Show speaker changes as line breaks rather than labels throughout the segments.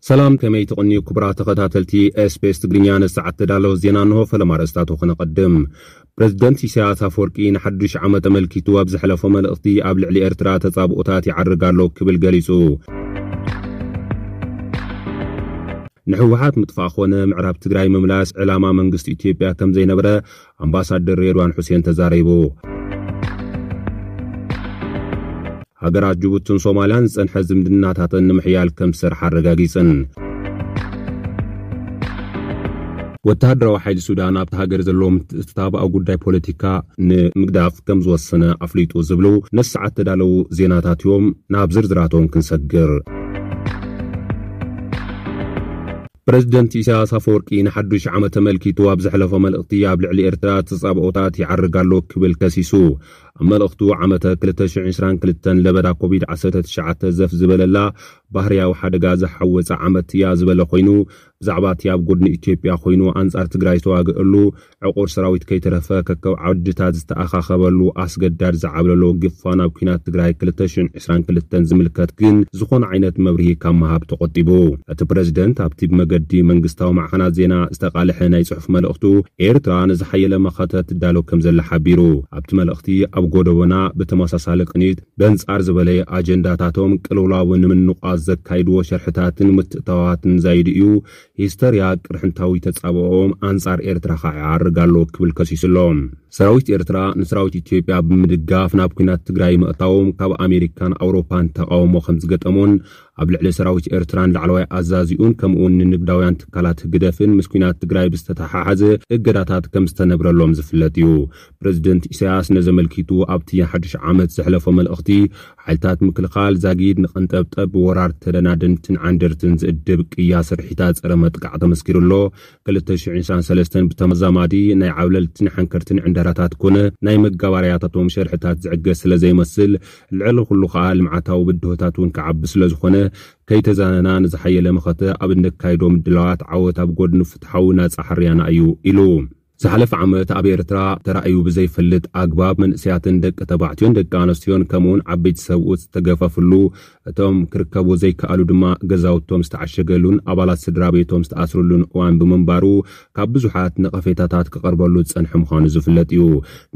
ሰላም ከመይ ትቕንዩ ክቡራት ተኸታተልቲ ኤስፔስ ትግርኛ ንሰዓት ተዳለወ ዜና እንሆ ፈለማ ርእስታቱ ክነቐድም ፕረዚደንት ኢሳያስ ኣፈወርቂ ንሓዱሽ ዓመት ኣመልኪቱ ኣብ ዘሕለፎ መልእኽቲ ኣብ ልዕሊ ኤርትራ ተጻብኦታት ይዓርግ ኣሎ ክብል ገሊጹ ንሕወሓት ምጥፋእ ኮነ ምዕራብ ትግራይ ምምላስ ዕላማ መንግስቲ ኢትዮጵያ ከም ዘይነበረ ኣምባሳደር ሬድዋን ሑሴን ተዛሪቡ። ሃገራት ጅቡትን ሶማልያን ዝጸንሐ ዝምድናታተን ንምሕያል ከም ዝሰርሓ ኣረጋጊጸን። ወተሃደራዊ ሓይሊ ሱዳን ኣብታ ሃገር ዘለዎ ምትእትታብ ኣብ ጉዳይ ፖለቲካ ንምግዳፍ ከም ዝወሰነ ኣፍሊጡ ዝብሉ ነዚ ሰዓት ዝተዳለዉ ዜናታት እዮም። ናብ ዝርዝራቶም ክንሰግር። ፕረዚደንት ኢሳያስ ኣፈወርቂ ንሓዱሽ ዓመት ተመልኪቱ ኣብ ዘሕለፎ መልእኽቲ ኣብ ልዕሊ ኤርትራ ተጻብኦታት ይዓርግ ኣሎ ክብል ከሲሱ። ኣብ መልእኽቱ ዓመተ ክልተ ሽሕን ዕስራን ክልተን ለበዳ ኮቪድ ዓሰርተ ትሽዓተ ዘፍ ዝበለላ ባህርያዊ ሓደጋ ዝሓወጻ ዓመት እያ ዝበለ ኮይኑ ብዛዕባ'ቲ ኣብ ጎድኒ ኢትዮጵያ ኮይኑ ኣንጻር ትግራይ ዝተዋገኣሉ ዕቑር ሰራዊት ከይተረፈ ከከብ ዓውድታት ዝተኣኻኸበሉ ኣስገዳድ ዝዓብለሎ ግፋ ናብ ኲናት ትግራይ ክልተ ሽሕን ዕስራን ክልተን ዝምልከት ግን ዝኾነ ዓይነት መብርሂ ካብ ምሃብ ተቖጢቡ። እቲ ፕረዚደንት ኣብቲ ብመገዲ መንግስታዊ ማዕኸናት ዜና ዝተቓልሐ ናይ ጽሑፍ መልእኽቱ፣ ኤርትራ ንዝሓየለ መኸተ ትዳሎ ከምዘላ ሓቢሩ። ኣብቲ መልእኽቲ፣ ኣብ ጎደቦና ብተመሳሳሊ ቅኒት በንጻር ዝበለየ ኣጀንዳታቶም ቅልውላው ንምንቋት ዘካይድዎ ሸርሕታትን ምትእትታዋትን ዛይዱ እዩ ሂስተርያ ቅርሕንታዊ ተጻብኦኦም ኣንጻር ኤርትራ ከኣ ይዓርግ ኣሎ ክብል ከሲሱ ኣሎ። ሰራዊት ኤርትራ ንሰራዊት ኢትዮጵያ ብምድጋፍ ናብ ኲናት ትግራይ ምእታዎም ካብ ኣሜሪካን ኣውሮፓን ተቓውሞ ከምዝገጠሞን ኣብ ልዕሊ ሰራዊት ኤርትራን ላዕለዋይ ኣዛዚኡን ከምኡ'ውን ንንግዳውያን ትካላት ህግደፍን ምስ ኲናት ትግራይ ብዝተተሓሓዘ እገዳታት ከምዝተነብረሎም ዝፍለጥ እዩ። ፕረዚደንት ኢሳያስ ነዚ ኣመልኪቱ ኣብቲ ሓድሽ ዓመት ዘሕለፎ መልእኽቲ ሓይልታት ምክልኻል ዛጊድ ንቐንጠብጠብ ብወራር ተደናደንትን ዓንደርትን ዝእድብ ቅያ ስርሒታት ጸረ መጥቃዕ ተመስኪሩ ኣሎ። ክልተ ሽሕን ዕስራን ሰለስተን ብተመዛማዲ ናይ ዓብለልትን ሓንከርትን ዕንደራታት ኮነ ናይ መጋባርያታቶም ሸርሕታት ዝዕገስ ስለ ዘይመስል፣ ልዕሊ ኩሉ ከኣ ልምዓታዊ ብድሆታት እውን ክዓቢ ስለ ዝኾነ፣ ከይተዛነና ንዝሓየለ መኸተ ኣብ እነካይዶ ምድላዋት ዓወት ኣብ ጎድኒ ፍትሓዊ ናጻ ሕርያና እዩ ኢሉ። ዝሓለፈ ዓመት ኣብ ኤርትራ ተራእዩ ብዘይፈልጥ ኣግባብ መንእሰያትን ደቂ ተባዕትዮን ደቂ ኣነስትዮን ከምኡውን ዓበይቲ ሰብኡት ዝተገፈፍሉ እቶም ክርከቡ ዘይከኣሉ ድማ ገዛውቶም ዝተዓሸገሉን ኣባላት ስድራቤቶም ዝተኣስርሉን እዋን ብምንባሩ ካብ ብዙሓት ነቐፌታታት ክቐርበሉ ዝጸንሐ ምዃኑ ዝፍለጥ እዩ።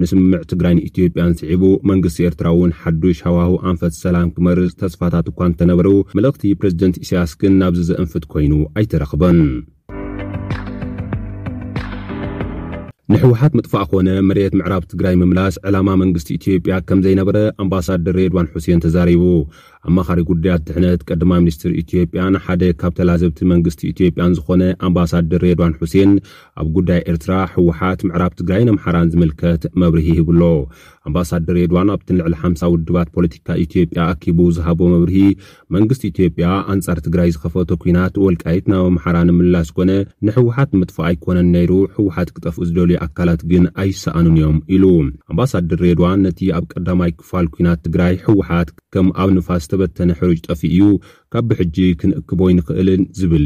ንስምምዕ ትግራይን ኢትዮጵያን ስዒቡ መንግስቲ ኤርትራ እውን ሓዱሽ ሃዋህው ኣንፈት ሰላም ክመርጽ ተስፋታት እኳ እንተነበሩ መልእኽቲ ፕረዚደንት ኢሳያስ ግን ናብዚ ዘእንፍት ኮይኑ ኣይተረኽበን። ንሕወሓት ምጥፋእ ኮነ መሬት ምዕራብ ትግራይ ምምላስ ዕላማ መንግስቲ ኢትዮጵያ ከም ዘይነበረ ኣምባሳደር ሬድዋን ሑሴን ተዛሪቡ። ኣማኻሪ ጉዳያት ድሕነት ቀዳማይ ሚኒስትር ኢትዮጵያን ሓደ ካብ ተላዘብቲ መንግስቲ ኢትዮጵያን ዝኾነ ኣምባሳደር ሬድዋን ሑሴን ኣብ ጉዳይ ኤርትራ፣ ሕወሓት፣ ምዕራብ ትግራይን ኣምሓራን ዝምልከት መብርሂ ሂቡ ኣሎ። ኣምባሳደር ሬድዋን ኣብቲ ንልዕሊ ሓምሳ ውድባት ፖለቲካ ኢትዮጵያ ኣኪቡ ዝሃቦ መብርሂ መንግስቲ ኢትዮጵያ ኣንጻር ትግራይ ዝኸፈቶ ኲናት ወልቃይት ናብ ኣምሓራ ንምምላስ ኮነ ንሕወሓት ንምጥፋእ ኣይኮነን ነይሩ፣ ሕወሓት ክጠፍኡ ዝደልዩ ኣካላት ግን ኣይሰኣኑን እዮም ኢሉ። ኣምባሳድር ሬድዋን ነቲ ኣብ ቀዳማይ ክፋል ኲናት ትግራይ ሕወሓት ከም ኣብ ንፋስ ዝተበተነ ሕሩጭ ጠፊኡ'ዩ፣ ካብ ብሕጂ ክንእክቦ ኣይንኽእልን ዝብል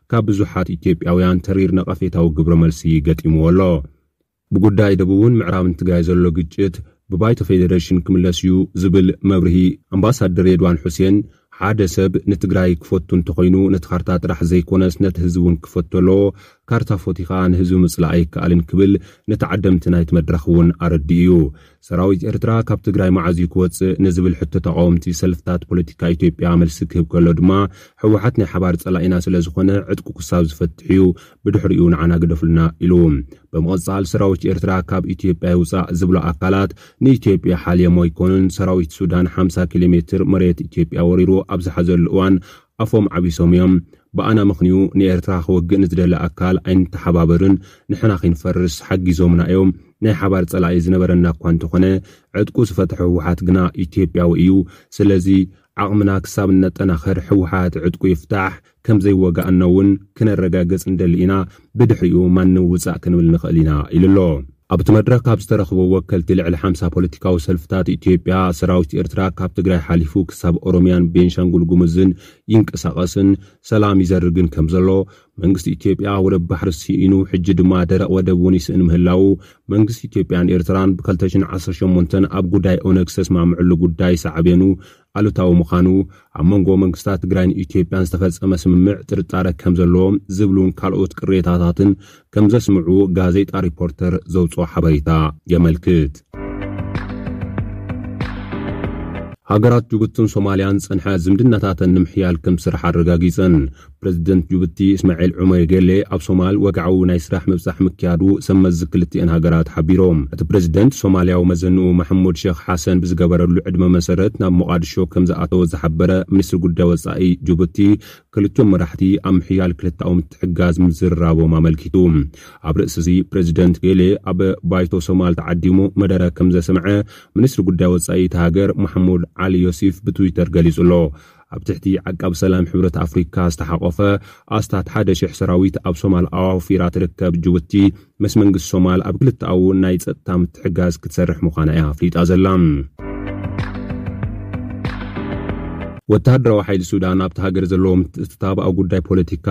ካብ ብዙሓት ኢትዮጵያውያን ተሪር ነቐፌታዊ ግብረ መልሲ ገጢምዎ ኣሎ። ብጉዳይ ደቡብን ምዕራብን ትግራይ ዘሎ ግጭት ብባይቶ ፌደሬሽን ክምለስ እዩ ዝብል መብርሂ ኣምባሳደር ሬድዋን ሑሴን፣ ሓደ ሰብ ንትግራይ ክፈቱ እንተኾይኑ ነቲ ካርታ ጥራሕ ዘይኮነስ ነቲ ህዝቢ እውን ክፈቶ ኣለዎ፣ ካርታ ፈትዩ ከዓ ንህዝቢ ምፅላእ ኣይከኣልን ክብል ንተዓደምቲ ናይቲ መድረኽ እውን ኣረዲኡ እዩ። ሰራዊት ኤርትራ ካብ ትግራይ መዓዝ እዩ ክወጽእ ንዝብል ሕቶ ተቓወምቲ ሰልፍታት ፖለቲካ ኢትዮጵያ መልሲ ክህብ ከሎ ድማ ህወሓት ናይ ሓባር ጸላኢና ስለዝኾነ ዕጥቁ ክሳብ ዝፈትሕ እዩ ብድሕሪኡ ንዓና ግደፉልና ኢሉ። ብምቕጻል ሰራዊት ኤርትራ ካብ ኢትዮጵያ ይውጻእ ዝብሉ ኣካላት ንኢትዮጵያ ሓልዮሞ ኣይኮኑን ሰራዊት ሱዳን ሓምሳ ኪሎ ሜትር መሬት ኢትዮጵያ ወሪሩ ኣብ ዝሓዘሉ እዋን ኣፎም ዓቢሶም እዮም ብኣና ምኽንዩ ንኤርትራ ክወግእ ንዝደሊ ኣካል ኣይንተሓባበርን ንሕና ኪንፈርስ ሓጊዞምና እዮም ናይ ሓባር ጸላኢ ዝነበረና እኳ እንተኾነ ዕጥቁ ዝፈትሐ ህወሓት ግና ኢትዮጵያዊ እዩ ስለዚ ዓቕምና ክሳብ እነጠናኽር ህወሓት ዕጥቁ ይፍታሕ ከምዘይወጋእናውን ክነረጋግጽ ንደሊ ኢና ብድሕሪኡ ማንም ውጻእ ክንብል ንኽእል ኢና ኢሉ ኣሎ። ኣብቲ መድረኽ ካብ ዝተረኽቡ ወከልቲ ልዕሊ ሓምሳ ፖለቲካዊ ሰልፍታት ኢትዮጵያ፣ ሰራዊት ኤርትራ ካብ ትግራይ ሓሊፉ ክሳብ ኦሮምያን ቤንሻንጉል ጉሙዝን ይንቀሳቐስን ሰላም ይዘርግን ከምዘሎ፣ መንግስቲ ኢትዮጵያ ወደብ ባሕሪ ስኢኑ ሕጂ ድማ ደረቕ ወደብ እውን ይስእን ምህላዉ መንግስቲ ኢትዮጵያን ኤርትራን ብኸልተ ሽሕን ዓሰርተ ሸሞንተን ኣብ ጉዳይ ኦነግ ዝተስማምዕሉ ጉዳይ ሳዕቤኑ ኣሉታዊ ምዃኑ፣ ኣብ መንጎ መንግስታት ትግራይን ኢትዮጵያን ዝተፈጸመ ስምምዕ ጥርጣረ ከም ዘሎ ዝብሉን ካልኦት ቅሬታታትን ከም ዘስምዑ ጋዜጣ ሪፖርተር ዘውጽኦ ሓበሬታ የመልክት። ሃገራት ጅቡትን ሶማልያን ዝጸንሐ ዝምድናታተን ንምሕያል ከም ዝስርሓ ኣረጋጊጸን። ፕረዚደንት ጁቡቲ እስማዒል ዑመር ጌሌ ኣብ ሶማል ወግዓዊ ናይ ስራሕ ምብጻሕ ምክያዱ ሰብ መዚ ክልቲኤን ሃገራት ሓቢሮም። እቲ ፕረዚደንት ሶማልያዊ መዘንኡ ማሕሙድ ሸኽ ሓሰን ብዝገበረሉ ዕድመ መሰረት ናብ ሞቓድሾ ከምዝኣተወ ዝሓበረ ሚኒስትሪ ጉዳይ ወጻኢ ጁቡቲ ክልቲኦም መራሕቲ ኣብ ምሕያል ክልተኣዊ ምትሕግጋዝ ምዝርራቦም ኣመልኪቱ። ኣብ ርእሲ'ዚ ፕረዚደንት ጌሌ ኣብ ባይቶ ሶማል ተዓዲሙ መደረ ከምዘስምዐ ሚኒስትሪ ጉዳይ ወጻኢ እታ ሃገር ማሕሙድ ዓሊ ዮሲፍ ብትዊተር ገሊጹ'ሎ። ኣብ ትሕቲ ዓቃብ ሰላም ሕብረት ኣፍሪካ ዝተሓቖፈ ኣስታት ሓደ ሽሕ ሰራዊት ኣብ ሶማል ኣዋፊራ ትርከብ ጅቡቲ፣ ምስ መንግስቲ ሶማል ኣብ ክልተኣዊ ናይ ፀጥታ ምትሕግጋዝ ክትሰርሕ ምዃና እያ ኣፍሊጣ ዘላ። ወተሃደራዊ ሓይሊ ሱዳን ኣብታ ሃገር ዘለዎ ምትእትታብ ኣብ ጉዳይ ፖለቲካ፣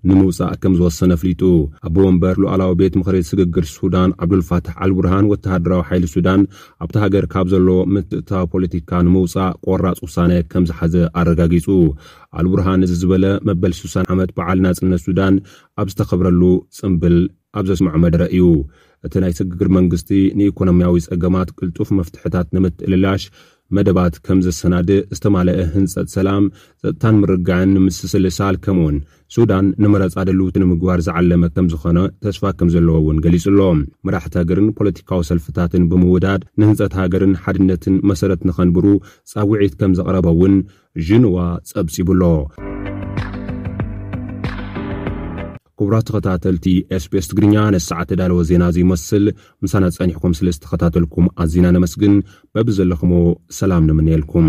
ንምውጻእ ከም ዝወሰነ ኣፍሊጡ። ኣቦ ወንበር ሉኣላዊ ቤት ምኽሪ ስግግር ሱዳን ዓብዱልፋታሕ ኣልቡርሃን ወተሃደራዊ ሓይሊ ሱዳን ኣብታ ሃገር ካብ ዘለዎ ምትእትታው ፖለቲካ ንምውጻእ ቆራጽ ውሳነ ከም ዝሓዘ ኣረጋጊጹ። ኣልቡርሃን እዚ ዝበለ መበል ስሳን ዓመት በዓል ናጽነት ሱዳን ኣብ ዝተኸብረሉ ጽንብል ኣብ ዘስመዖ መደረ እዩ። እቲ ናይ ስግግር መንግስቲ ንኢኮኖሚያዊ ጸገማት ቅልጡፍ መፍትሕታት ንምትእልላሽ መደባት ከም ዘሰናድእ፣ ዝተማለኣ ህንጸት ሰላም፣ ጸጥታን ምርግጋእን ንምስስልሳል ከምኡ'ውን ሱዳን ንመረጻ ድልውቲ ንምግባር ዝዓለመ ከም ዝኾነ ተስፋ ከም ዘለዎ እውን ገሊጹ ኣሎ። መራሕቲ ሃገርን ፖለቲካዊ ሰልፍታትን ብምውዳድ ንህንጸት ሃገርን ሓድነትን መሰረት ንኸንብሩ ጻውዒት ከም ዘቕረበ እውን ዥንዋ ጸብጺቡ ኣሎ። ክቡራት ተኸታተልቲ SBS ትግርኛ ነዚ ሰዓት ተዳለወ ዜና እዚ ይመስል ምሳና ጸኒሕኩም ስለ ዝተኸታተልኩም ኣዚና ነመስግን በብዘለኹሞ ሰላም ንምነየልኩም